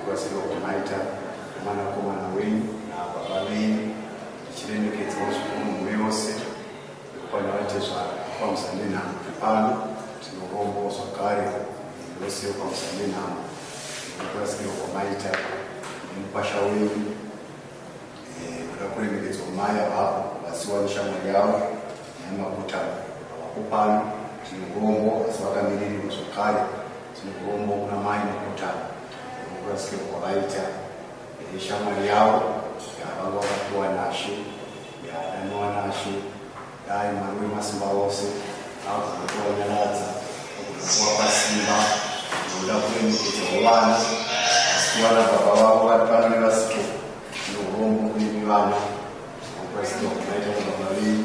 Kubatsirwa kwamaita nemwanakomana wenyu nababa venyu tichiremekedzwa zvikuru mumwe yose nekupanda vatezvara kwamisa nenhamo pano tinorombo zvakare yose yokwamisa nenhamo nekubatsirwa kwamaita nemukwasha wenyu eh, kuda kuremekedzwa mai avavo vasiwa neshamwari yavo nemakuta avako pano tinorombo asi vakamirirwa zvakare Zimugombo kuna mai Mukuta nekurasika kwavaita neshamwari yavo yavanga vakapiwa nashe yadanwa nashe dai mwari wemasimba ose agoda kuvanyaradza agoda kuvapa simba noda kuremekedza vovana asi kuvana baba vavo vari pano nevasiko zvinorombo kuimi vana zvokurasika kunaita kubaba venyu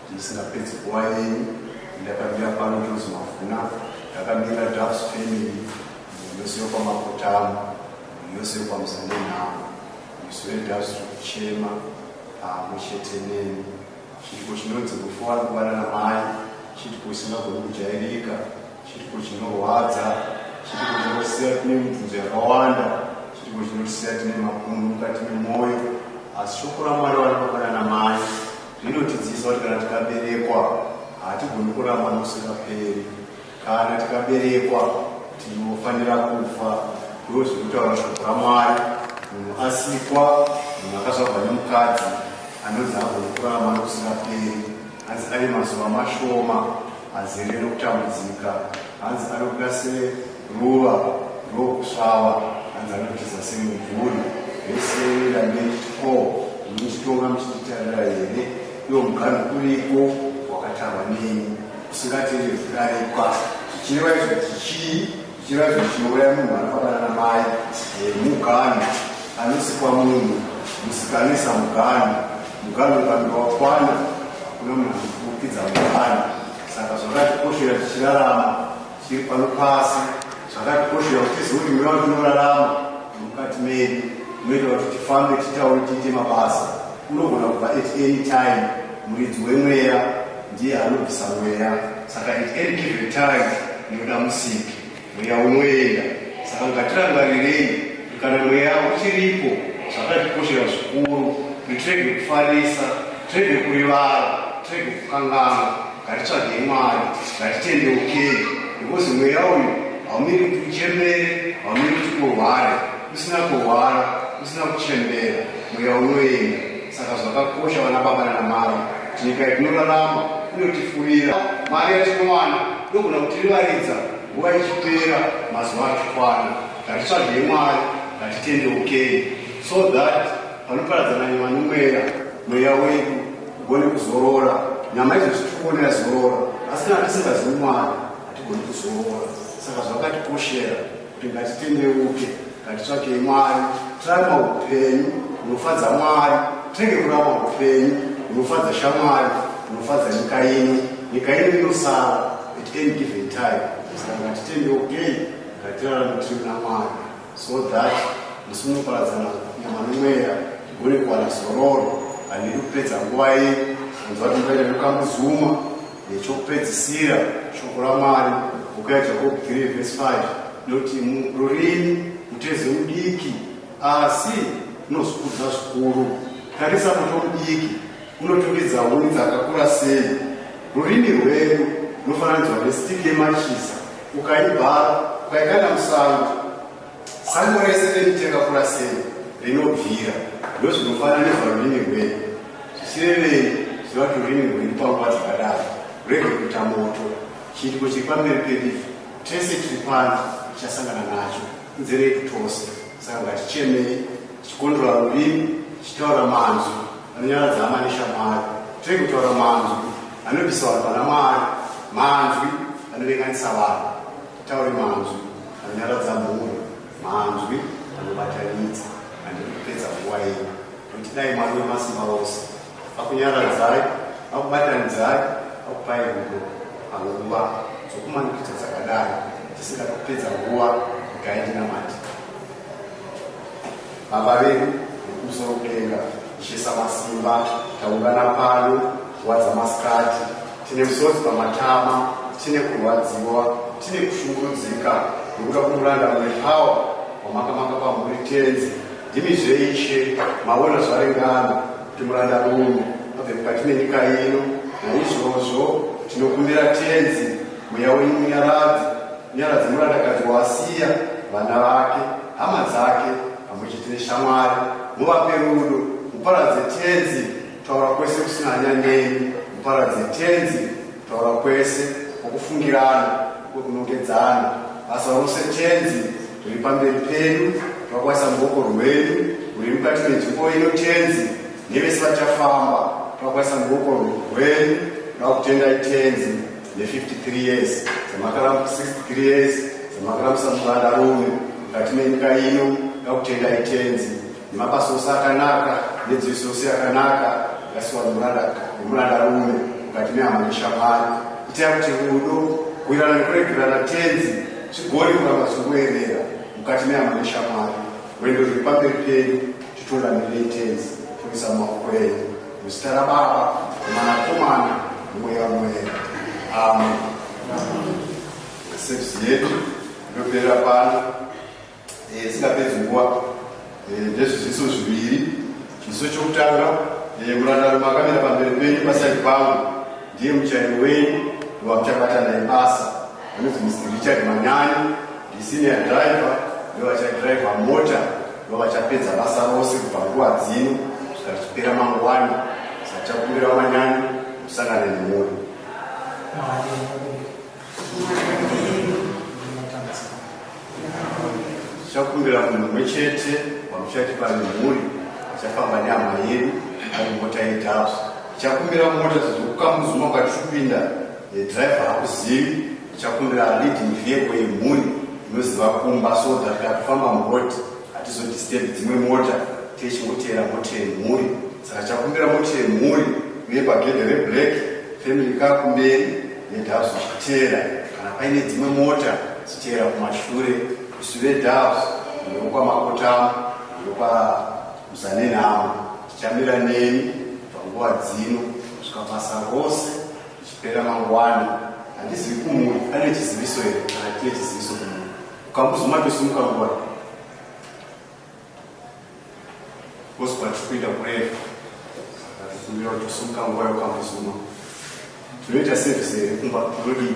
Musingapedzi nguva yenyu, ndakamira pano Jozi Mavhuna, ndakamira Dafs Family, yose yokwaMakotamo, yose yokwaMuzanenhamo, isu veDafs tiri kuchema pamwe chete neni. Chiitiko chinonzi rufu ari kubana namai, chiitiko chisingagoni kujairika, chiitiko chinorwadza, chiitiko chinosiya tine mibvunzo yakawanda, chiitiko chinotisiya tine mapundu mukati memwoyo, asi shoko ramwari vanobabanana mai Zvinotidzidzisa kuti kana tikaberekwa hatigoni kuramba nokusingaperi. Kana tikaberekwa tinofanira kufa. Ndizvo zviri kutaura shoko raMwari. Munhu asikwa, munhu akazvarwa nemukadzi anonzi haagoni kuramba nokusingaperi. Hanzi ave mazuva mashoma azere nokutambudzika. Hanzi anobuda seruva rokusvava, hanzi anotiza semumvuri. Vese ndanditi ko muchitonga muchititarira here? Iwo mugano kuriko wakatarwa neni usingatende zvikarikwa zvichireva izvo chichii zvichireva izvo chinouraya munhu anofana na mai eh, mugano anosikwa munhu musikanisa mugano mugano ukange wakwana hakuna munhu anofukidza mugano saka zvakatikoshera tichirarama tiri pano pasi zvakatikoshera kuti tizive kuti mweya watinorarama mukati medu unoita kuti tifambe titaure tiite mabasa unogona kubva at any time muridzi wemweya ndiye anobvisa mweya saka at any given time ndinoda musiki Mweya unoenda, saka ngatirangarirei kuti kana mweya uchiripo zvakatikoshera zvikuru kuti tirege kufarisa, tirege kurivara, tirege kukanganwa. Ngatitsvagei Mwari, ngatitendeukei, because mweya uyu haumiri kuti uchembere, haumiri kuti urware. kusina kurwara kusina kuchembera mweya unoenda saka zvakakosha vana baba nana mari nyika yatinorarama inotifurira mari yatinowana ndogona kutirivaridza nguva ichipera mazuva achikwana ngatitsvagei mwari ngatitendeukei so that panoparadzana nyama nomweya mweya wedu ugone kuzorora nyama idzo zvitikugone yazorora asi kana tisingazivi mwari hatigoni kuzorora saka zvakatikoshera Ngatitendeuke, ngatitsvakei Mwari, tirarama upenyu hunofadza Mwari, tirege kurarama upenyu hunofadza shamwari, hunofadza nyika ino. Nyika ino inosara at any given time, saka ngatitendeukei, ngatirarame tiri muna Mwari so that musi munoparadzana nyama nomweya tigone kuwana zororo, handidi kupedza nguva iyi kunzwa kuti mbaita ndokamuzuma Nechokupedzisira, shoko raMwari, boka yaJakobo 3 vhesi 5, noti rurimi mutezo mudiki, asi unozvikudza zvikuru. Tarisa moto mudiki unotungidza huni dzakakura sei. Rurimi rwedu runofananidzwa nestiki yemachisa, ukaibhara ukaikanda musango Sango rese rekuti yakakura sei rinobvira ndozvinofanana nezvarurimi rwenyu zvichirevei ziva kuti rurimi rwenyu panguva dzakadaro rwege kuita moto chiitiko chiri pamberi pedivi tese tiri pano tichasangana nacho nzere yedu tose saka ngatichemei tichikondora rurimi tichitaura manzwi anonyaradza hama neshamwari tirege kutaura manzwi anobvisa vanhu pana mwari manzwi anovenganisa vanhu Taure manzwi anonyaradza mhuri, manzwi anobatanidza handidi kupedza nguva yenyu, nokuti dai Mwari wemasimba ose vakunyaradzai, vakubatanidzai, vakupai rudo panguva dzokumanikidza dzakadai, tisingadi kupedza nguva, regai ndinamate. Baba vedu vekumusoro kudenga, Ishe Samasimba, taungana pano nguva dzamasikati, tine musodzi pamatama, tine kurwadziwa, tine kushungurudzika nekuda kumuranda mune pawa wamakamaka pamhuri tenzi. Ndimi zveishe maona zvaringana kuti muranda rume abve mukati menyika ino, naizvozvo tinokumbira tenzi mweya wenyu munyaradzi Nyaradzi murandakadzi waasiya vana vake, hama dzake pamwe chete neshamwari. Muvape rudo, muparadze Tenzi kutaura kwese kusina hanya nemi, muparadze Tenzi kutaura kwese kwokufungirana, kwekunongedzana. Basa rose Tenzi riri pamberi pedu, twakwaisa muboko rwedu ruri mukati menzvimbo ino Tenzi, nevese vachafamba twakwaisa muboko rwedu, tava kutendai Tenzi. ne 53 years dzamakaramb 63 years dzamakarambisa mwana rume mukati menyika ino ngakutenda itenzi nemabasa ose akanaka nedziviso yose yakanaka ngasiwa nemuranda rume mukati mehama neshamwari itai kuti rudo kuirana nekuregerana tenzi zvigori kuramba zvichikuerera mukati mehama neshamwari rwendo rwepamberi penyu titolanirei tenzi toisa maoko enyu Muzita raBaba, Mwanakomana, Mweya Mutsvene. Amen. Service yedu inoperera pano eh, isingapedzi nguva eh, ndezviziso zviviri. Chiziso chokutanga, eh, murandarume akamira pamberi penyu paside pangu ndiye muchairi wenyu wamuchabata naye basa. Vanonzi Mr Richard Manyanyi ndisenior driver ndovachadriver mota ndovachapedza basa rose kubva nguva dzino kusvika tichipera mangwani sachakumbira Manyanyi musangane nemuri tichakumbira munhu umwe chete wamuchati pane mhuri achafamba nehama yedu ari mota yedhafu tichakumbira mota zvokukamuzuma kwatipinda The driver hakuzivi ndichakumbira leading vehicle yemhuri inoziva kumba so that kana tofamba muroad hatizodisturb dzimwe mota techingoteera mota yemhuri saka chakumbira mota yemhuri uye pagedhe reblack family kaa kumberi nedabs uchiteera kana paine dzimwe mota dzichiteera kumashure isu vedabs ndokwamakotamo ndokwa muzanenhamo tichamira neni panguva dzino kusvika basa rose Chipera mangwana handizivi kumuri ane chiziviso here hatie chiziviso kumuri ukambuzuma tosimuka nguva oswa tikuita kureva akumira tosimuka nguva yokambuzuma tinoita sevise here kumba tinodii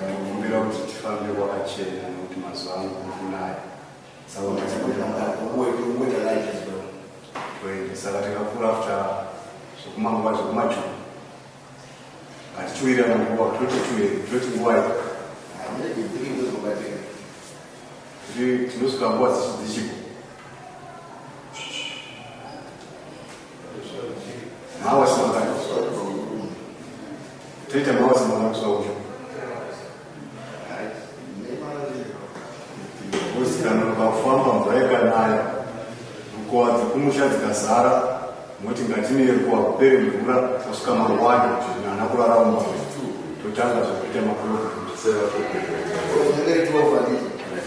Ndinokumbira kuti tifambe kwakachena nekuti mazuva ano kukunaya. Saka tikakura after zvekumanguva zvekumajuku ngatichiwira manguva toti tiwe toti nguva iyo tinosvika nguva dzichipo Mawasi mangani kusvika kubva kurumu. Toita mawasi mangani kusvika kucho. Kusikana ukafamba mvura ikanaya. Rukowa dzekumusha dzikazara. Moti ngatine rukowa kupere mvura kusvika mangwani kuti nana kurara umwe. Totanga zvekuita makurukuru. Sera kuku. Unenge 12 adii?